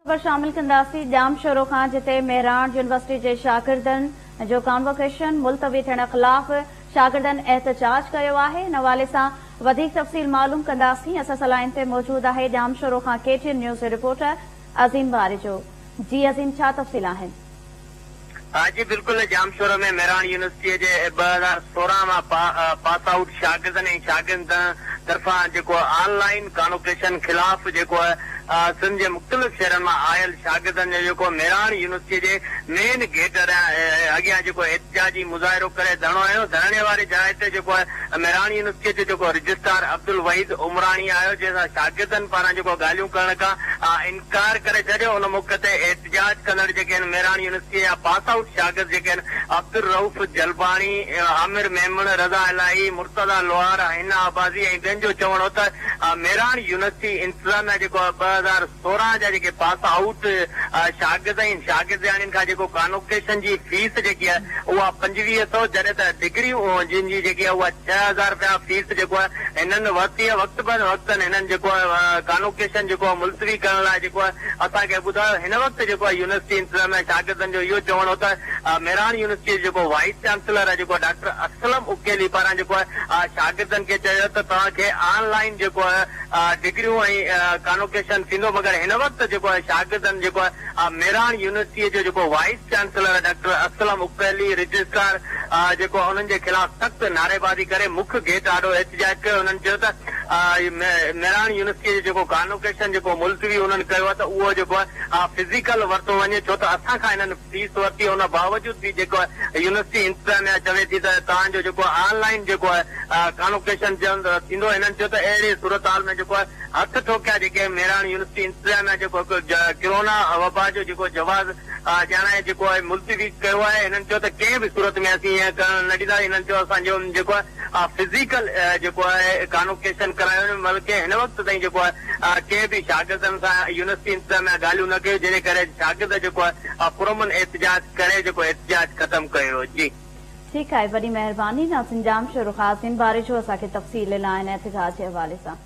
خبر شامل ڪنداسين ڄام شورو کان جتي مهراڻ يونيورسٽي جي شاگردن جو ڪانووڪيشن ملتوي ٿيڻ خلاف شاگردن احتجاج ڪيو آهي ان حوالي سان وڌيڪ تفصيل معلوم ڪنداسين اسان سان لائين تي موجود آهي ڄام شورو کان ڪي ٽي اين نيوز جو رپورٽر عظيم باريجو جي عظيم ڇا تفصيل آهن. ها جي بلڪل ڄامشورو ۾ مهراڻ يونيورسٽيء جي ٻه هزار سورهن مان پاس آئوٽ شاگردن ۽ شاگردن طرفان جيڪو آن لائين ڪانوڪيشن خلاف جيڪو سنڌ جي مختلف شهرن مان آيل شاگردن جو جيڪو مهراڻ يونيورسٽيء جي مين گيٽ اڳيان جيڪو احتجاجي مظاهرو ڪري ڌرڻو هنيو ڌرڻي واري جاء تي جيڪو مهراڻ يونيورسٽيء جو جيڪو رجسٽرار عبدالوحيد عمراڻي آيو جنهن سان شاگردن پاران جيڪو ڳالهيون ڪرڻ کان ڪار ڪري ڇڏيو ان موقعي تي احتجاج ڪندڙ جيڪي آهن ميراڻ يونيورسٽيء جا پاس آئوٽ شاگرد جيڪي آهن عبدالرئوف جلباڻي، عامر ميمڻ، رضا الاهي، مرتضيٰ لوهار، حنا عباسي ۽ ٻين جو چوڻ هو ته ميراڻ يونيورسٽي انتظاميا جيڪو آهي ٻه هزار سورهن جا جيڪي پاس آئوٽ شاگرد ۽ شاگردياڻين کان جيڪو ڪانوڪيشن جي فيس جيڪي آهي اها پنجويهه سئو جڏهن ته ڊگريون جن جي جيڪي آهي اها ڇهه هزار رپيا فيس جيڪو آهي هنن ورتي ۽ وقت بن وقتن هنن جيڪو ڪانوڪيشن جيڪو ملتوي ڪرڻ لاء جيڪو اسان کي ٻڌايو هن وقت جيڪو يونيورسٽي انتظاميا شاگردن جو اهو چوڻ هو ته مهراڻ يونيورسٽي جو جيڪو وائيس چانسلر آهي جيڪو ڊاڪٽر اسلم اڪيلي پاران جيڪو شاگردن کي چيو ته توهان کي آن لائين جيڪو ڊگريون ۽ ڪانوڪيشن ٿيندو مگر هن وقت جيڪو شاگردن جيڪو آء ميراڻ يونيورسٽيء جو جيڪو vice chancellor doctor Aslam Akeli, registrar, آء جيڪو انهن جي خلاف سخت نعريبازي ڪري مک گيٽ آڏو احتجاج ڪيو، انهن چيو ته آء ميراڻ يونيورسٽيء جو جيڪو ڪانوڪيشن جيڪو ملتوي انهن ڪيو آهي ته اهو جيڪو آء فزيڪل ورتو وڃي ڇو ته اسان کان انهن فيس ورتي ان باوجود به جيڪو آء يونيورسٽي انتظاميا چوي ٿي ته توهان جو جيڪو آء آن لائين جيڪو آء ڪانوڪيشن ٿيندو، انهن چيو ته اهڙي صورتحال ۾ جيڪو آء هٿ ٺوڪيا جيڪي ميراڻ يونيورسٽي انتظاميا جيڪو هڪ ڪرونا وبا جو جيڪو جواز ڄاڻائي جيڪو آهي ملتوي ڪيو آهي هنن چيو ته ڪنهن به صورت ۾ اسين ائين ڪرڻ نه ڏينداسين هنن چيو اسان جو جيڪو آهي فزيڪل جيڪو آهي ڪانوڪيشن ڪرايو وڃي بلڪه هن وقت تائين جيڪو آهي ڪنهن به شاگردن سان يونيورسٽي انتظاميا ڳالهيون نه ڪيون جنهن ڪري شاگرد جيڪو آهي پرامن احتجاج ڪري جيڪو احتجاج ختم ڪيو جي. ٺيڪ آهي وڏي مهرباني ناظرين ڄام شورو خاص ان باري جو اسان کي تفصيل ڏنائين احتجاج جي حوالي سان.